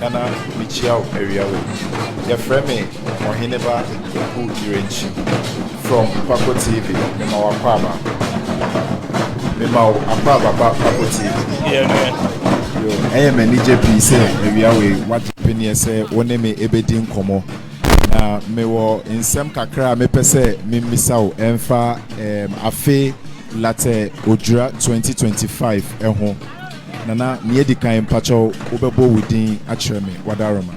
Nana mekyia wo awia wei. Yɛfrɛ me Ɔheneba Oku Irenkyi from Pako TV mema wo akwaaba mema wo akwaaba ba Pako TV. Deɛ no yɛ. Yo, ɛyɛ me anigye pii sɛ awia wei wagye peneɛ sɛ wo ne me ɛbɛdi nkɔmmɔ. Na mewɔ nsɛm kakra a mepɛ sɛ memmisa wo ɛmfa ɛɛm afe Latte Odwira 2025 ho. Nana nea edikan mpakyɛw wo bɛbɔ wo din akyerɛ me wadaroma.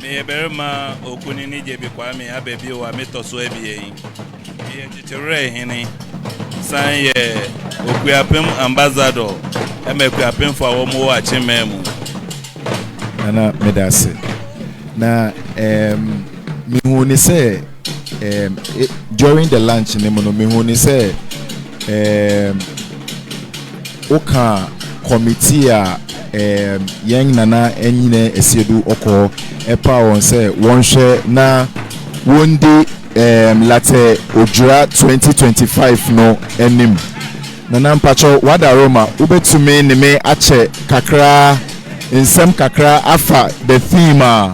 Meyɛ barima okunini Gyebi Kwame aba bio a metɔ so abien. Meyɛ Kyekyewerɛ Hene san yɛ Okuapem Ambassador ma Akuapemfo a wɔn wɔ Akyenman mu. Nana meda ase na ɛɛ mehuu ne sɛ. um, e, during the lunch no mu no mehu ne sɛ um, woka committee a um, yɛn nana nyina asiedu ɔkɔ ɛpa wɔn sɛ wɔnhwɛ na wɔndi um, latɛ odwira 2025 no anim nana mpakyɛ wadaro ma wobɛtumi ne me akyɛ kakra nsɛm kakra afa the theme a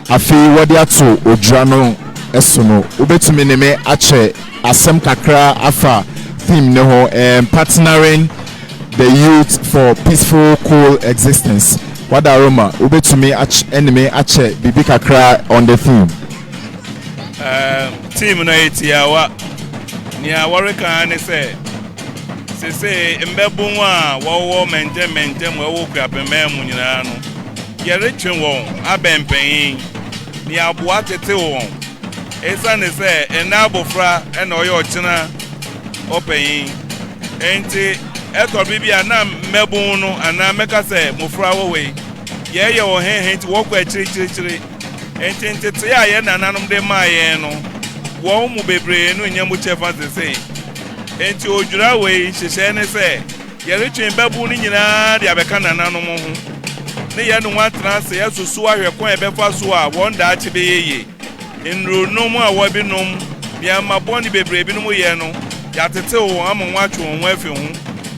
Afei wɔde ato odwira no so no, wobɛtumi ne me akyɛ asɛm kakra afa theme no ho, um, Partnering the Youth for Peaceful Cool Existence. Wada Roma, wobɛtumi ne me akyɛ biribi kakra on the theme? Um, theme no yɛ tiawa. Nea wɔreka ara ne sɛ, Sesei mbabun a wɔwɔ mmɛntɛmmɛntɛ mu a ɛwɔ Kuapemman mu nyinaa no, yɛretwe wɔn abɛn mpanyin, na yɛaboa atetew wɔn. Esiane sɛ ɛnnɛ abofra na ɔyɛ ɔkyena ɔpanyin nti, ɛtɔ bere bi a na mmabun no, anaa mɛka sɛ mmofra wɔ hɔ yi, yɛyɛ wɔn hɛnhɛn nti wɔkɔ akyirikyirikyiri. Enti ntetee a yɛn nananom de maa yɛn no, wɔn mu bebree no nnya mu kyɛfa seesei. Enti odwira wei nhyehyɛe ne sɛ yɛretwe mmabun no nyinaa de abɛka nananom ho, ne yɛne wɔn atena ase asusuw ahwɛ kwan a yɛbɛfa so a wɔn daakye bɛyɛ ye. Nnurunom a wɔbinom, nea mma bɔne bebree binom yɛ no, yɛatetew wɔn ama wɔatwe wɔn ho afi ho,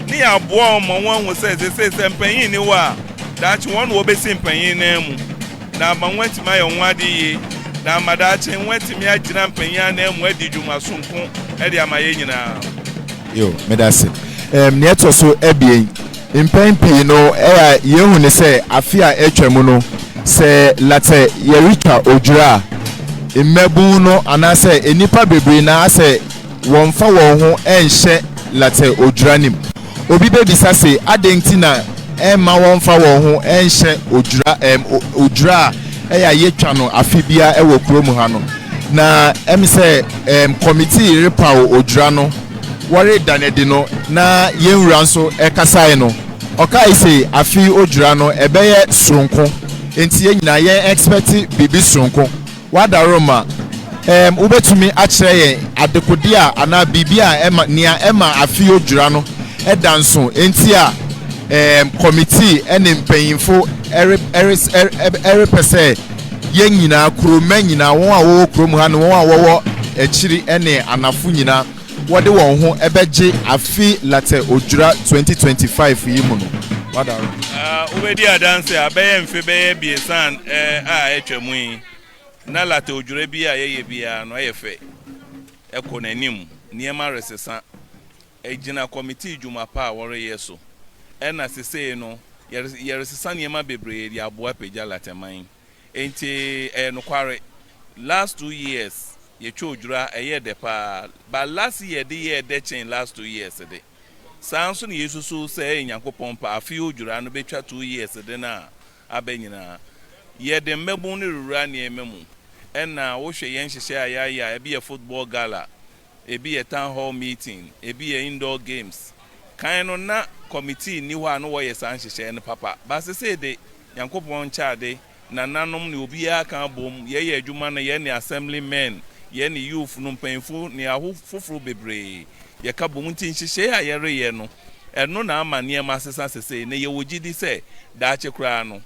ne yɛaboa wɔn ma wɔahu sɛ seesei sɛ mpanyin nni hɔ a, daakye wɔn na wɔbesi mpanyin nan mu. na ama wɔatumi ayɛ wɔn ho ade yiye, na ama daakye wɔatumi agyina mpanyin ananmu adi dwuma soronko de ama yɛn nyinaa. Yo, meda ase. Ɛɛm, nea ɛtɔ so abien, mpɛn pii no, ɛyɛ a yehu no sɛ afe a atwam no, sɛ latɛ yɛretwa odwira a, mmabun no anaasɛ nnipa bebree na asɛ, wɔmfa wɔn ho nhyɛ latɛ odwira no mu. Obi bebisa se, Adɛn nti na ɛmma wɔmfa wɔn ho nhyɛ odwira ɛm, odwira a ɛyɛ a yetwa no afe biara wɔ kurom ha no? Na ɛm sɛ ɛm kɔmitii repaw odwira no, wɔreda no adi no, na yɛn wura nso kasae no, ɔkae se, Afe yi odwira no, ɛbɛyɛ soronko, enti yɛn nyinaa yɛn expect biribi soronko. W'adaworoma, Ɛɛm, wobɛtumi akyerɛ yɛn adekode a anaa biribi a ɛma, nea ɛma afe yi odwira no da nso nti a ɛɛm kɔmitii ne mpanyimfo re, res, ɛ, repɛ sɛ yɛn nyinaa, kuromma nyinaa, wɔn a wɔwɔ kurom ha ne wɔn a wɔwɔ akyiri ne anafo nyinaa, wɔde wɔn ho bɛgye afe Luther Odwira 2025 yi mu no. Wobedi adanse a, bɛyɛ mfe bɛyɛ abiɛsa a atwam yi, na Luther Odwira bi a yɛyɛ biara no yɛ fɛ, ɛkɔ n'anim, nneɛma resesa, egyina kɔmitii dwuma pa a wɔreyɛ so, ɛnna sesei no, yɛresesa nneɛma bebree de aboa apagya Luther man. Enti ɛyɛ nokware. Last two years yɛtwa odwira ɛyɛɛ dɛ paa but last year de yɛɛ dɛ kyen last two years de. Saa nso na yɛsusuw sɛ ɛyɛ Nyankopɔn pɛ afe odwira no bɛtwa two years de no a aba nyinaa. Yɛde mmabun no rewura nneɛma mu. Ɛna wohwɛ yɛn nhyehyɛe a yɛayɛ a ɛbi yɛ football gala, ɛbi yɛ town hall meeting, ɛbi yɛ indoor games. Kan no na committee nni hɔ a na wɔyɛ saa nhyehyɛe no papa but sesei de Nyankopɔn nkyɛ ade, nananom ne obiara ka bom, yɛ yɛ adwuma no, yɛ ne Assembly men, yɛ ne youth no mpanyimfo ne aho foforo bebree, yɛ ka bom nti nhyehyɛe a yɛ reyɛ no, ɛno na ama nneɛma asesa sesei, na yɛ wɔ gyidi sɛ daakye koraa no,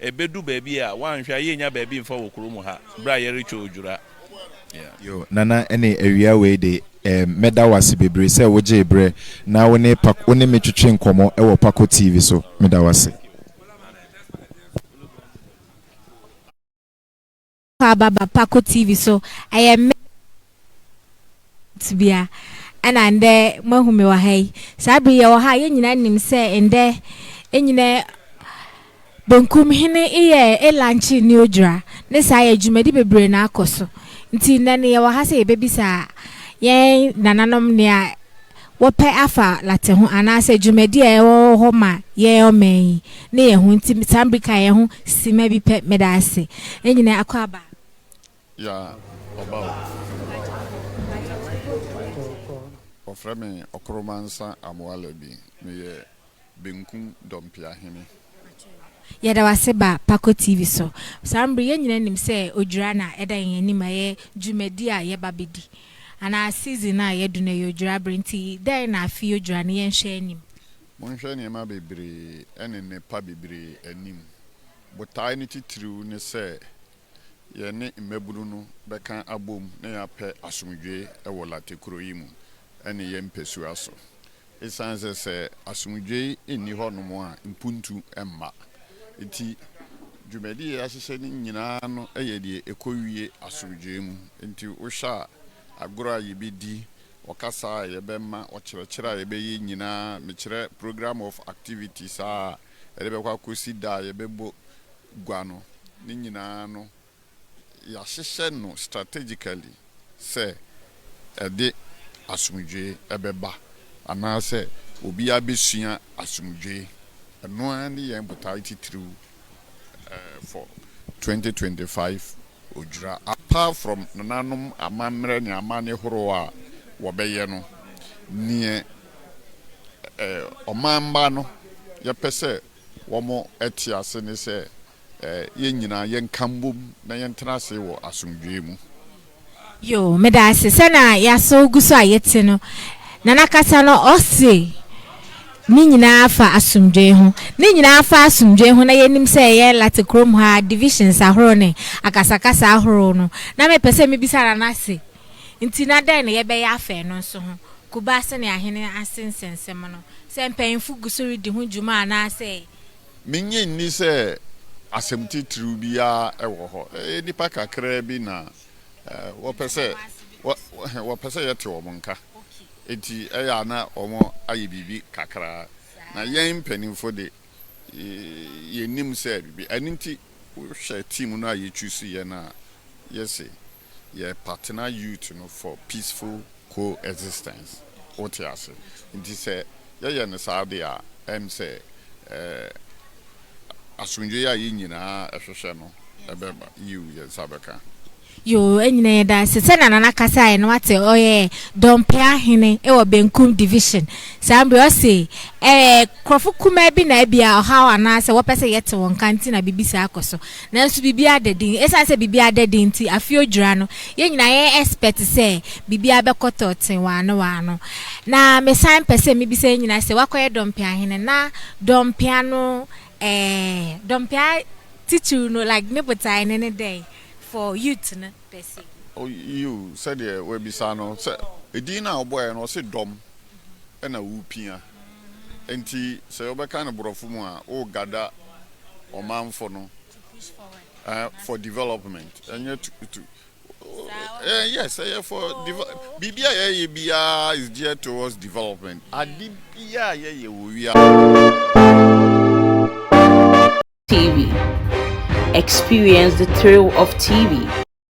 ɛbɛ du baabi a, woanhwɛ a yɛ nnya baabi mfa wɔ kuro mu ha, berɛ a yɛ retwa odwura. Yeah. Yo, Nana ɛne awia wei de, eh, mɛda wo ase bebree sɛ wo gyee berɛ na wo ne, pa, wo ne me twetwe nkɔmmɔ wɔ Pako TV so. Meda wo ase. aba ba Pako TV so. Ɛyɛ me tebea ɛna ndɛ moahu me wɔ ha yi. Saa bere yɛwɔ ha a yɛn nyinaa nim sɛ ndɛ nyina benkum hene yɛ elankye ne odwira. Ne saa yɛ dwumadi bebree na akɔ so. Nti nnɛ no yɛwɔ ha sɛ yɛbɛbisa yɛn nananom nea wɔpɛ afa Latin ho anaasɛ dwumadi a ɛwɔ hɔ ma yɛn ɔman yi ne yɛn ho nti saa bere ka yɛn ho simma bi pɛ meda ase nyinaa akwaaba a Ya ɔba o. Wɔfrɛ me Ɔkoromansa Amoalabi. Meyɛ. benkum dɔmpeahene. Yɛda wo ase ba Pako TV so. Saa mbre yɛn nyinaa nim sɛ odwira na ɛda yɛn anim ɛyɛ dwumadi a yɛba bɛdi anaa season a yɛadu no ɛyɛ odwira bere nti dɛn na afi odwira no yɛnhwɛ anim. Monhwɛ nneɛma bebree ɛne nnepa bebree anim. Botae no titiriw ne sɛ yɛne mmabunu no bɛka abom na yɛapɛ asomdwoe wɔ Late kuro yi mu ɛne yɛn mpɛsua so. Esiane sɛ sɛ asomdwoe nni hɔnom a mpuntu mma nti, dwumadi a yɛahyehyɛ no nyinaa no yɛ deɛ ɛkɔwie asomdwoe mu. Enti wohwɛ a, agorɔ a yɛbɛdi, ɔkasa a yɛbɛma, ɔkyerɛkyerɛ a yɛbɛyɛ nyinaa, mekyerɛ programme of activities a ɛde bɛkɔ akɔsi da a yɛbɛbɔ gua no, ne nyinaa no, yɛahyehyɛ no strategically sɛ ɛde asomdwoe bɛba anaasɛ obiara bɛsua asomdwoe. Ɛno ara ne yɛn botae titiriw for twenty twenty five Odwira. Apart from nananom amammerɛ ne amanne horow a wɔbɛyɛ no, nea ɔman mma no yɛpɛ sɛ wɔte ase ne sɛ yɛn nyinaa yɛnka mbom na yɛntena ase wɔ asomdwoe mu. Yoo meda ase sɛ na yɛasow gu so a yɛte no Nana kasa no ɔse ne nyinaa fa asomdwoe ho ne nyinaa fa asomdwoe ho na yɛnim sɛ yɛn Late kurom ha divisions ahorow ne akasakasa ahorow no na mepɛ sɛ mebisa Nana se Nti na dɛn na yɛbɛyɛ afa ɛno nso ho? Kuba sɛnea ahene ase nsɛnsɛm no, sɛ mpanyimfo gu so redi ho dwuma anaasɛ. Minnye nni sɛ asɛm titiriw biara wɔ hɔ. Ɛyɛ nnipa kakraa bi na wɔpɛ sɛ wɔpɛ sɛ yɛte wɔn nka, enti ɛyɛ a na wɔayɛ biribi kakra. Na yɛn mpanyimfo de, yenim sɛ biribi. Ɛno nti, wohwɛ team no a yechuusu yɛ no a, yese yɛ partner youth no for peaceful co-existence wote ase nti sɛ yɛyɛ no saa deɛ a ɛm sɛ eh asomdwoeɛ a yɛn nyinaa ɛhwehwɛ no ɛbɛba yiw yɛn nsa bɛka. Yoo ɛnyina yɛda ase sɛnea nana kasaeɛ no wate ɔyɛ Dɔmpɛ ahene wɔ Benkum division saa mbrɛ ɔse eh nkorɔfo kumaa bi na ɛbia ɔhaw anaa sɛ wɔpɛ sɛ yɛte wɔn nka nti na biribi saa kɔ so Nanso biribiara da din. Esiane sɛ biribiara da din nti, afei odwira no, yɛn nyinaa yɛyɛ expert sɛ biribiara bɛkɔtɔ tee waa no waa no. Na mesan pɛ sɛ mibisa yɛn nyinaa sɛ, woakɔyɛ dɔmpea hene? Na dɔmpea no ɛɛ, dɔmpea titiriw no, like ne botae no ne dɛn for youth no per se? Oh, yiw, sɛdeɛ woabisa no, sɛ edin no a ɔbɔeɛ no, ɔse dɔm na wopia. Enti sɛ wɔbɛka no borɔfo mu a, wo gada ɔmanfo no eh, for development ɛnyɛ to, to eh, yes ɛyɛ for develop biribi a yɛyɛ biara is geared towards development ade biara a yɛyɛ wɔ TV. Experience the thrill of TV.